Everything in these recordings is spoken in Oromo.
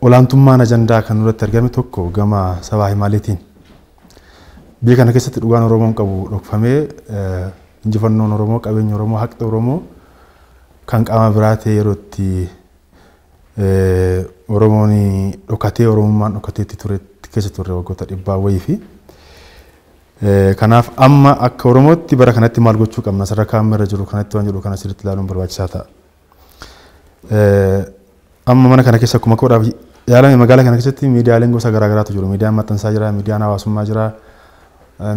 Olaantummaan ajandaa kan nurratti argame tokko gama sabaa himaaleetiin. Biyya kana keessatti dhugaan Oromoon qabu dhokfamee injifannoon Oromoo, qabeenyi Oromoo, haqni Oromoo kan qaama biraa ta'ee yeroo itti Oromoon dhokatee Oromummaan dhokatee itti ture keessa turre waggoota dhibbaa wayii fi kanaaf amma akka Oromootti bara kanatti maal gochuu qabna sadarkaa amma irra jiru kanatti waan jedhu kana sirriitti ilaaluun barbaachisaa ta'a. Amma mana kana keessa akkuma koodhaaf yaalame magaalaa kana keessatti miidiyaaleen gosa garaa garaatu jiru. Miidiyaan maxxansaa jira, miidiyaan hawaasummaa jira,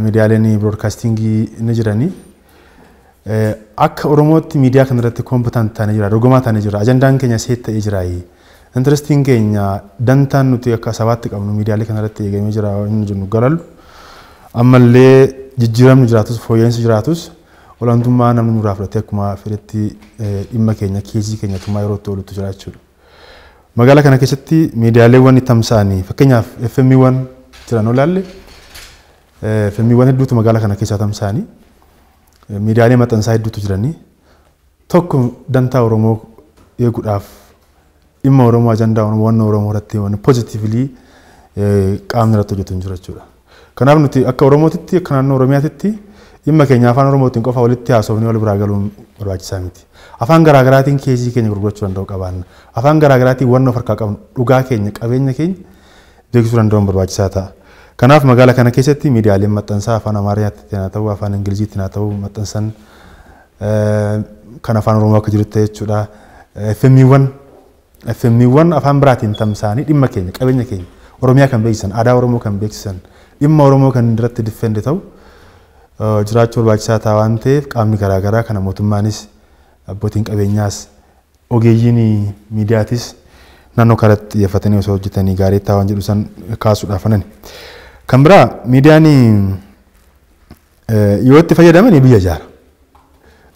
miidiyaaleen biroodkaastingii ni jiranii. Akka Oromootti miidiyaa kana irratti koompitaan taanee jira, dorgomaa taanee jira, ajandaan keenya seet ta'ee jira. Intirestiin keenya dantaan nuti akka sabaatti qabnu miidiyaalee kana irratti eegamee jira inni jennu galallu. Ammallee jijjiiramni jiraatus fooyya'insi jiraatus Olaantummaa namni nurraa fudhatee akkuma fedhetti dhimma keenya keezii keenya tumaa yeroo itti oolutu jira jechuudha. Magaalaa kana keessatti miidiyaaleewwan tamsa'anii fakkeenyaaf FMiwwan jiran yoo ilaalle FMiwwan hedduutu magaalaa kana keessaa tamsa'anii miidiyaalee maxxansaa hedduutu jiranii tokko dantaa Oromoo eeguudhaaf Dhimma Oromoo ajandaa hubannoo Oromoo irratti wanni positively qaamni irratti hojjetu hin jiru jechuudha. Kanaaf nuti akka Oromootitti akka naannoo Oromiyaatitti dhimma keenya afaan Oromootiin qofa walitti haasofnee wal biraa galuun barbaachisaa miti. Afaan garaa garaatiin keesii keenya gurgurachuu danda'u qabaanna. Afaan garaa garaatiin wanna of harkaa qabnu dhugaa keenya qabeenya keenya beeksisuu danda'uun barbaachisaa ta'a. Kanaaf magaala kana keessatti miidiyaaleen maxxansaa afaan Amaariyaattiin haa ta'uu afaan Ingiliziittiin haa ta'uu maxxansan Kan Afaan Oromoo akka jirutti ta'e jechuudha. FMiiwwan FMiiwwan afaan biraatiin tamsa'anii dhimma keenya, qabeenya keenya, Oromiyaa kan beeksisan, aadaa Oromoo kan beeksisan, dhimma Oromoo kan irratti diffendi ta'u jiraachuu barbaachisaa ta'a waan ta'eef qaamni garaa garaa kana mootummaanis, abbootiin qabeenyaas, ogeeyyiin miidiyaatis naannoo kanatti xiyyeeffatanii osoo hojjetanii gaarii ta'a waan jedhu san kaasuudhaaf anani. Kan biraa miidiyaan Yoo itti fayyadamani biyya ijaara.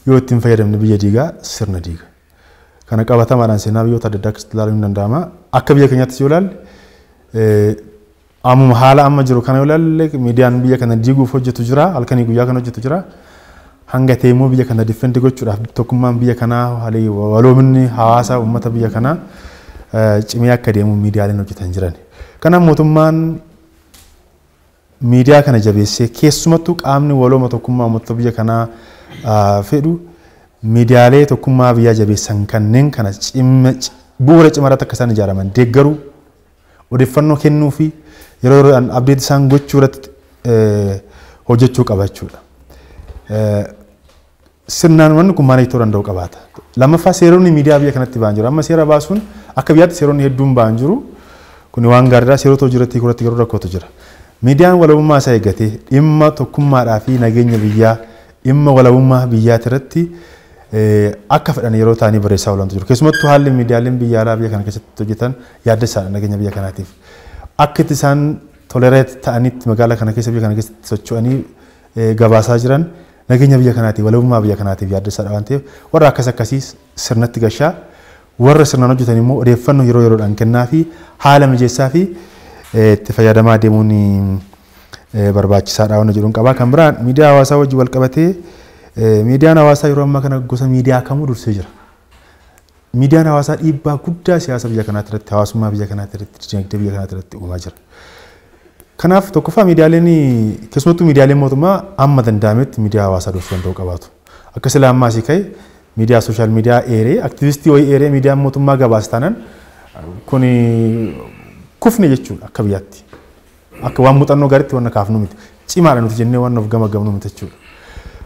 Yoo itti hin fayyadamne biyya diiga, sirna diiga. Kana qabatamaadhaan seenaa biyyoota adda addaa keessatti ilaaluun ni danda'ama. Akka biyya keenyaattis yoo ilaalle ammuma haala amma jiru kana yoo ilaalle miidiyaan biyya kana diiguuf hojjetu jira, halkanii guyyaa kan hojjetu jira. Hanga ta'e immoo biyya kana diffendi gochuudhaaf tokkummaan biyya kanaa haalii waloominni hawaasa uummata biyya kanaa cimee akka deemu miidiyaaleen hojjetan jiran. Kanaaf mootummaan miidiyaa kana jabeessee keessumattuu qaamni walooma tokkummaa uummattoota biyya kanaa fedhu miidiyaalee tokkummaa biyyaa jabeessan kanneen kana bu'uura cimaa irratti akka isaan ijaaraman deeggaruu odeeffannoo kennuu fi yeroo yeroodhaan abdeetii isaan gochuu irratti hojjechuu qaba jechuudha. sirnaan wanni kun maanage ta'uu danda'u qabaata. Lammaffaa seeronni miidiyaa biyya kanatti ba'an jiru. Amma seera baasuun akka biyyaatti seeronni hedduun ba'an jiru. Kuni waan gaariidha. Seerota hojii irratti hiikuurratti garuu rakkootu jira. Miidiyaan walabummaa isaa eeggatee dhimma tokkummaadhaa fi nageenya biyyaa dhimma walabummaa biyyaati irratti akka fedhan yeroo ta'anii barreessaa oolantu jiru. Keessumattuu haalli miidiyaaleen biyya alaa biyya kana keessatti hojjetan yaaddessaadha nageenya biyya kanaatiif. Akka itti isaan tolereet ta'anitti magaalaa kana keessa biyya kana keessatti socho'anii gabaasaa jiran nageenya biyya kanaatiif, walabummaa biyya kanaatiif yaaddessaadha waan ta'eef warra akkas akkasii sirnatti gashaa, warra sirnaan hojjetan immoo odeeffannoo yeroo yeroodhaan kennaafii, haala mijeessaafii itti fayyadamaa deemuun barbaachisaadha waan jedhuun qabaa. Kan biraan miidiyaa hawaasaa wajjin wal qabatee miidiyaan hawaasaa yeroo ammaa kana gosa miidiyaa kamuu dursee jira. Miidiyaan hawaasaa dhiibbaa guddaa siyaasa biyya kanaatti irratti, hawaasummaa biyya kanaatti irratti, dinagdee biyya kanaatti irratti uumaa jira. Kanaaf tokkoffaa miidiyaaleen keessumattuu miidiyaaleen mootummaa amma danda'ametti miidiyaa hawaasaa dursuu danda'uu qabaatu. Akka sila ammaa asii ka'e miidiyaa sooshaal miidiyaa eeree aktivistii wayii eeree miidiyaan mootummaa gabaasa taanaan kun kufne jechuudha akka biyyaatti. Akka waan muuxannoo gaariitti waan kaafnu miti. Cimaadha nuti jennee waan of gamagamnu miti jechuudha.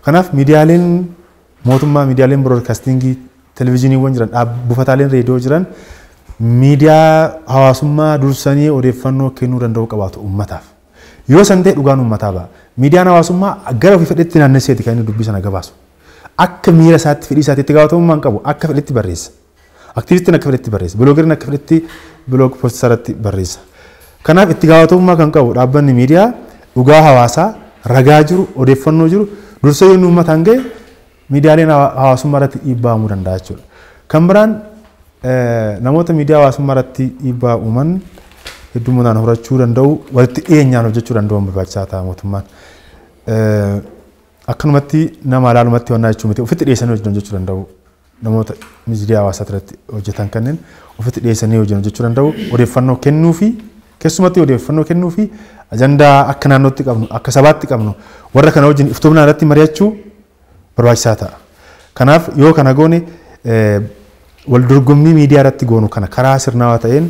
Kanaaf miidiyaaleen Mootummaa, miidiyaaleen biroodkaastiingii, televizhiniiwwan jiran, dhaab, buufataaleen reediyoo jiran miidiyaa hawaasummaa dursanii odeeffannoo kennuu danda'uu qabaatu uummataaf. Yoo san ta'e dhugaan uummataa ba'a. Miidiyaan hawaasummaa gara ofii fedhetti naannesseeti kan inni dubbii sana gabaasu. Akka miira isaatti, fedhii isaatti itti gaafatamummaa hin qabu. Akka fedhetti barreessa. Aktiivistiin akka fedhetti barreessa. Biloogeriin akka fedhetti biloog poosti isaarratti barreessa. Kanaaf itti gaafatamummaa kan qabu dhaabbanni miidiyaa dhugaa hawaasaa ragaa jiru odeeffannoo jiru dursee yoonni uummataan ga'e miidiyaaleen hawaasummaa irratti dhiibbaa uumuu danda'a jechuudha. Kan biraan namoota miidiyaa hawaasummaa irratti dhiibbaa uuman heddumminaan horachuu danda'u walitti dhiyeenyaan hojjechuu danda'uun barbaachisaa ta'a mootummaan. Akkanumatti nama alaalumatti wannaa jechuu miti ofitti dhiyeessanii hojjechuu danda'u namoota miidiyaa hawaasaa irratti hojjetan kanneen ofitti dhiyeessanii hojiin hojjechuu danda'u odeeffannoo kennuu fi keessumatti odeeffannoo kennuu fi ajandaa akka naannootti qabnu akka sabaatti qabnu warra kana wajjin iftoomnaa irratti mari'achuu barbaachisaa ta'a. Kanaaf yoo kana goone wal dorgommii miidiyaa irratti goonu kana karaa sirnaawaa ta'een